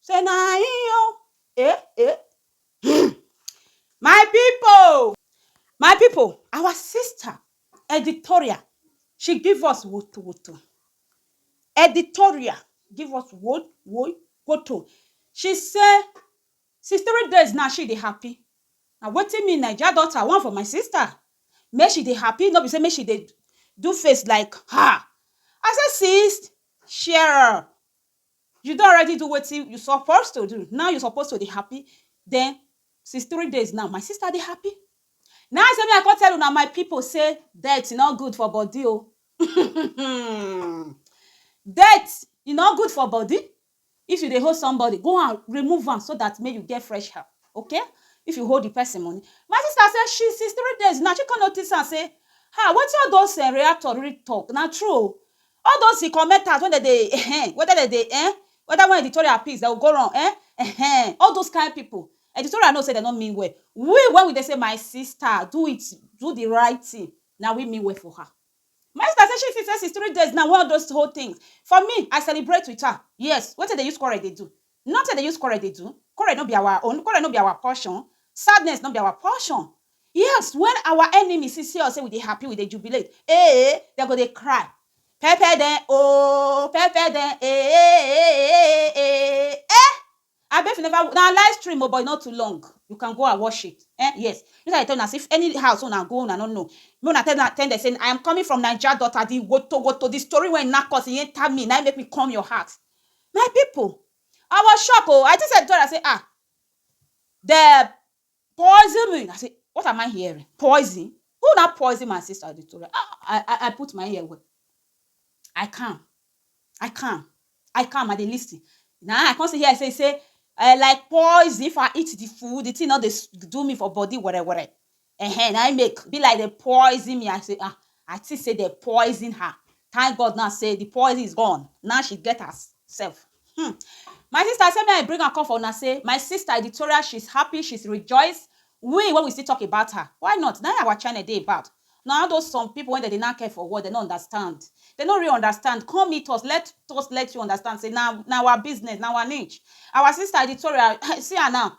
Say na him o eh eh hmm my people my people our sister editorial she give us woto woto editorial give us wo woi woto she say since three days now she dey happy na wetin me naija daughter want for my sister make she dey happy no be say make she dey do face like um I say sis cheer up You don already do wetin you suppose to do, now you suppose to dey happy den since three days now, my sister dey happy? Na im say make I come tell una my pipu sey dirty no good for body o um dirt e no good for body, if you dey owe somebody go and remove am so dat make you get fresh hand okay, if you owe di person money. My sister say she since three days now she come notice am sey um wetin all those reactor really talk na true o, All those hin commenters wen dem dey ehen, whether dem dey eh, whether wen editorial piece dem go go run eh, ehen, all those kind people, editorial know say dem no mean well, we wen we dey say my sister do it, do the right thing, na we mean well for her. My sister say she feel say since three days now wen all those whole things, for me I celebrate with her, yes, wetin dey use quarrel dey do? Nothing I dey use quarrel dey do, quarrel no be our own, quarrel no be our portion, sadness no be our portion. Yes, when our enemies see see us say we dey happy, we dey jubilate, eeh, dem go dey cry, Pepper dem ooh, pepper dem eeh, eeh, eh! Abi if you never, na live stream o but e no too long, you can go and watch it, eh, yes. Make I dey tell una say if any house wey una go una no know, make una tell dem dem say, I am coming from Naija daughter, the wotowoto, the story wey knack us, e enter me, na im make me come your house. My pipu I was shock oh I think sey dem tell me sey um dem poison me I say what am I hearing poison who na poison my sister Victoria um I put my ear well I calm I calm I calm I dey lis ten na I come still hear sey sey um like poison if I eat de food de thing no dey do me for body were were Ehen na im make be like dem poison me I say ah I think say dem poison her thank God now say the poison is gone now she get her self um my sister I say make I bring am come for una say my sister Editoria she is happy she is rejoice we when we still talk about her why not na im our channel dey about na all those some people wey dem dey nack head for wall dem no understand dem no really understand come meet us let us let you understand say na na our business na our niche our sister Editoria see her now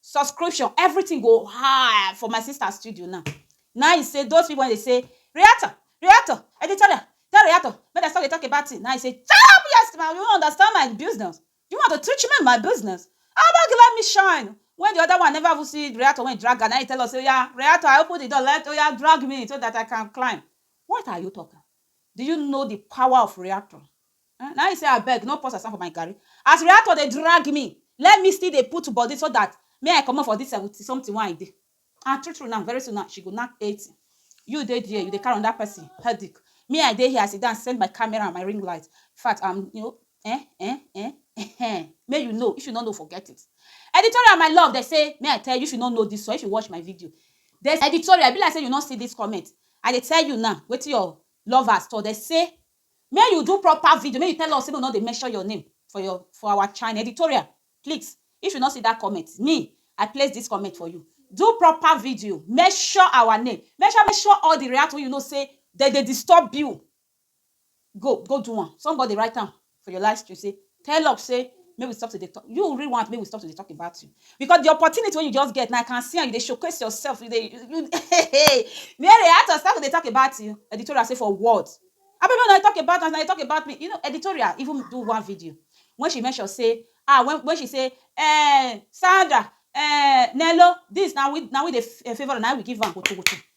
subscription everything go high for my sister studio now na him say those people wey dey say reactor reactor editorial tell reactor make dem stop dey talk about thing na him say chop your sti you no understand my business you want to teach me my business abeg let me shine when the other one never even see reactor wey him drag am na him tell us say oya reactor I open the door let oya drag me so that I can climb what are you talking do you know the power of reactor Uhm na im say abeg no pour sand for my garri as reactor dey drag me let me still dey put body so that me I comot for this seventy something wey I dey and true true now very soon now she go knack eighty you dey there you dey carry another person headache me I dey here I sit down set my camera and my ring light infact am you know eh eh eh ehen make you know if you no know forget it Editorial my love dem say make I tell you if you no know this one if you watch my video Editorial e be like say you no see this comment I dey tell you now wetin your lovers talk dem say Make you do proper video, make you tell us say make we no dey mention your name for your for our channel. Editorial please if you no see that comment, me I place this comment for you. Do proper video, mention our name, mention mention all the react wey you know say dem dey disturb you. Go go do am. Somebody write am for your live stream say tell up say make we stop to dey talk you really want make we stop to dey talk about you because the opportunity wey you just get now I can see am you dey showcase yourself you dey you hey Mary I to start to dey talk about you editorial say for what abi make una dey talk about am as una dey talk about me you know editorial even do one video when she mention say ah when when she say um Sandra um Nello this na we na we dey favour am na we give am wotowoto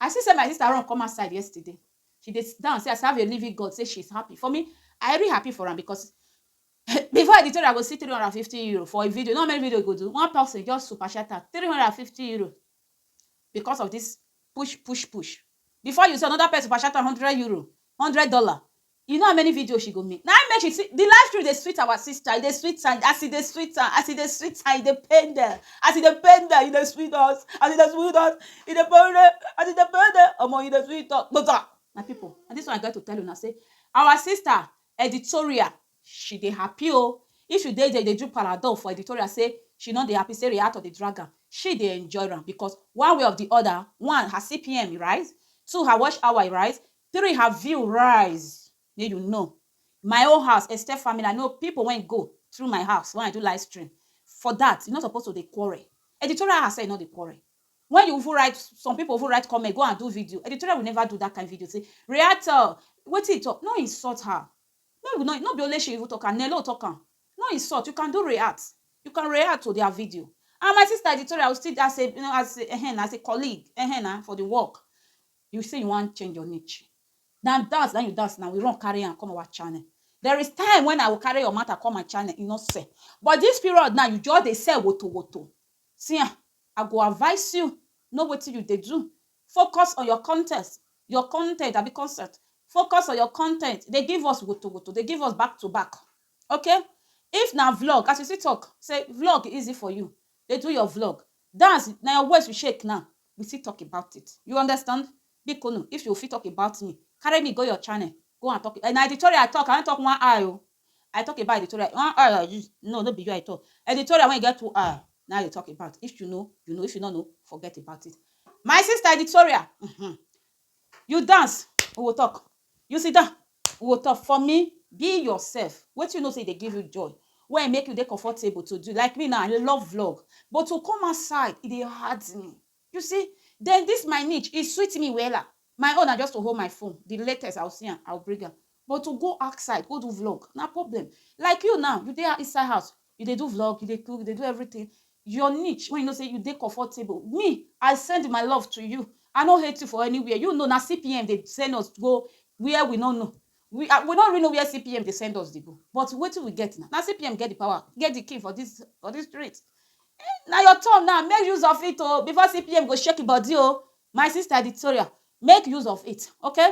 I see say my sister run come outside yesterday. She dey down say I serve a living God say she's happy. For me, I really happy for am because before I dey tell I go see 350 euro for a video. Not many video you go do. One person just super chat am 350 euro because of this push, push, push. Before you see another person super chat am 100 euro, 100 dollar. You know how many videos she go make? Na im make she see the live stream dey sweet our sister, e dey sweet am as e dey sweet am, as e dey sweet am, e dey pain dem, as e dey pain dem, e dey sweet us, as e dey sweet us, e dey pain dem, as e dey pain dem, omo e dey sweet us gboza. My people na this one I get to tell una say our sister editorial she dey happy o, if you dey there you dey do paradol for editorial say she no dey happy say reactor dey drag am, she dey enjoy am because one way of the other, one her CPM e rise, two her watch hour e rise, Three her view rise make you know my own house extend family I know people wey go through my house when I do live stream for that you no suppose to dey quarrel editorial herself no dey quarrel when you even write some people even write comment go and do video editorial will never do that kind video say reactor wetin e talk no insult her make we no no be only she even talk am Nelo talk am no insult you can do react you can react to their video and my sister editorial will still as a as a um as a colleague um na for the work You say you wan change your niche na dance na you dance na we run carry am come our channel there is time when I will carry your matter come my channel you no sell but this period now you just dey sell woto woto see am I go advice you know wetin you dey do focus on your content your content abi concept focus on your content dey give us woto woto dey give us back to back ok if na vlog as you see talk say vlog easy for you dey do your vlog dance na your waist you shake now we fit talk about it you understand biko nu if you fit talk about me carry me go your channel go and talk na editorial I talk I no talk one eye o I talk about editorial one eye like this no no be you I talk editorial wey get two eye na I dey talk about if you know you know if you no know forget about it my sister editorial um You dance, we go talk, you sit down, we go talk. For me, be yourself. Wetin you know say e dey give you joy, wey make you dey comfortable to do. Like me now, I love vlog, but to come outside, e dey hard me. You see, then this my niche, e sweet me wella. My own na just to hold my phone, the latest, I go see am, I go bring am. But to go outside go do vlog na problem like you now you dey inside house you dey do vlog you dey cook you dey do everything your niche when you know say you dey comfortable me I send my love to you I no hate you for anywhere you know na CPM dey send us go where we no know we I we no really know where CPM dey send us dey go but wetin we get na na CPM get the power get the key for this for this street um na your turn now make use of it oo before CPM go shake him body oo my sister Victoria make use of it okay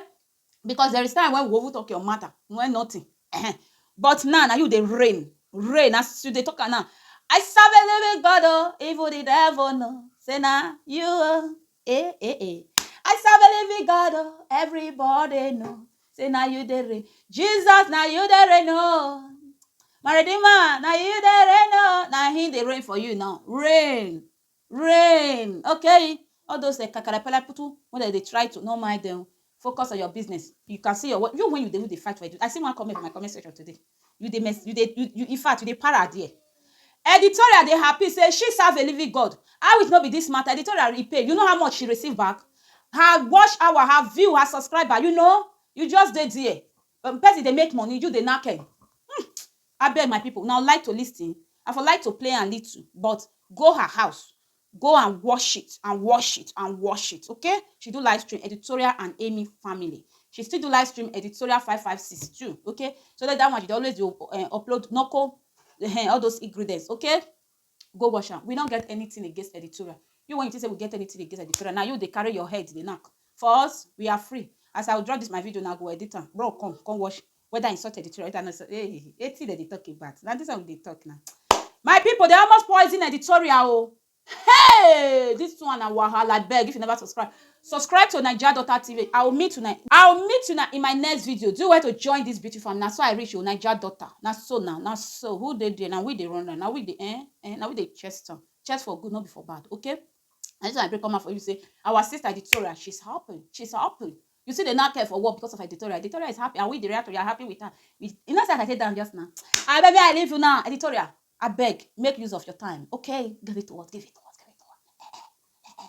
Because there is time when we over talk your matter, when nothing. Eh-heh. But now, now you dey rain, rain as you dey talk am now. I serve a living God, oh, even the devil know. Say now you, oh, eh, eh, eh. I serve a living God, oh, everybody know. Say now you dey rain, Jesus, now you dey rain, oh. My redeemer, now you dey rain, oh. Now he dey rain for you now, rain. Rain! Okay, all those eh, kakarapalaputu wey dem dey try to no mind them. Focus on your business. You can see your work. You when you dey you dey fight for edu- I see one comment for my comment section today. You dey mess, you dey you, you in fact you dey para there. Editorial dey happy say she serve a living God. How it no be this matter? Editorial e pay. You know how much she receive back? Her watch hour, her view, her subscriber. You know, you just dey there. Wen person dey make money you dey naked um abeg my people una like to listen I for like to play am little but go her house go and watch it and watch it and watch it ok she do live stream editorial and Amy family she still do live stream editorial five five six too ok so dat one she dey always dey upload knuckle um all those ingredients ok. Go wash am. We no get anything against editorial. You wen you think say we get anything against editorial, na you dey carry your head dey knack. For us, we are free. As I go drop this my video now, I go edit am. Bro come, come wash whether insult editorial, whether no insult. Hey, wetin dem dey talk about? Na this one we dey talk now. My people, they almost poison editorial o. Hey! This one na wahala. Abeg, if you never subscribe, Subscribe to naija daughter TV I will meet una I will meet una in my next video do well to join this beautiful family na so I reach o naija daughter na so na na so who dey there na we dey run am na we dey eh eh na we dey chest am chest for good no be for bad okay na this one I bring come out for you say our sister Editoria she's happy she's happy you still dey knack her for work because of Editoria Editoria is happy and we the reactor we are happy with her we you know say as I take down just now abeg make I leave you now Editoria abeg make use of your time okay give it to us give it to us give it to us eh eh eh eh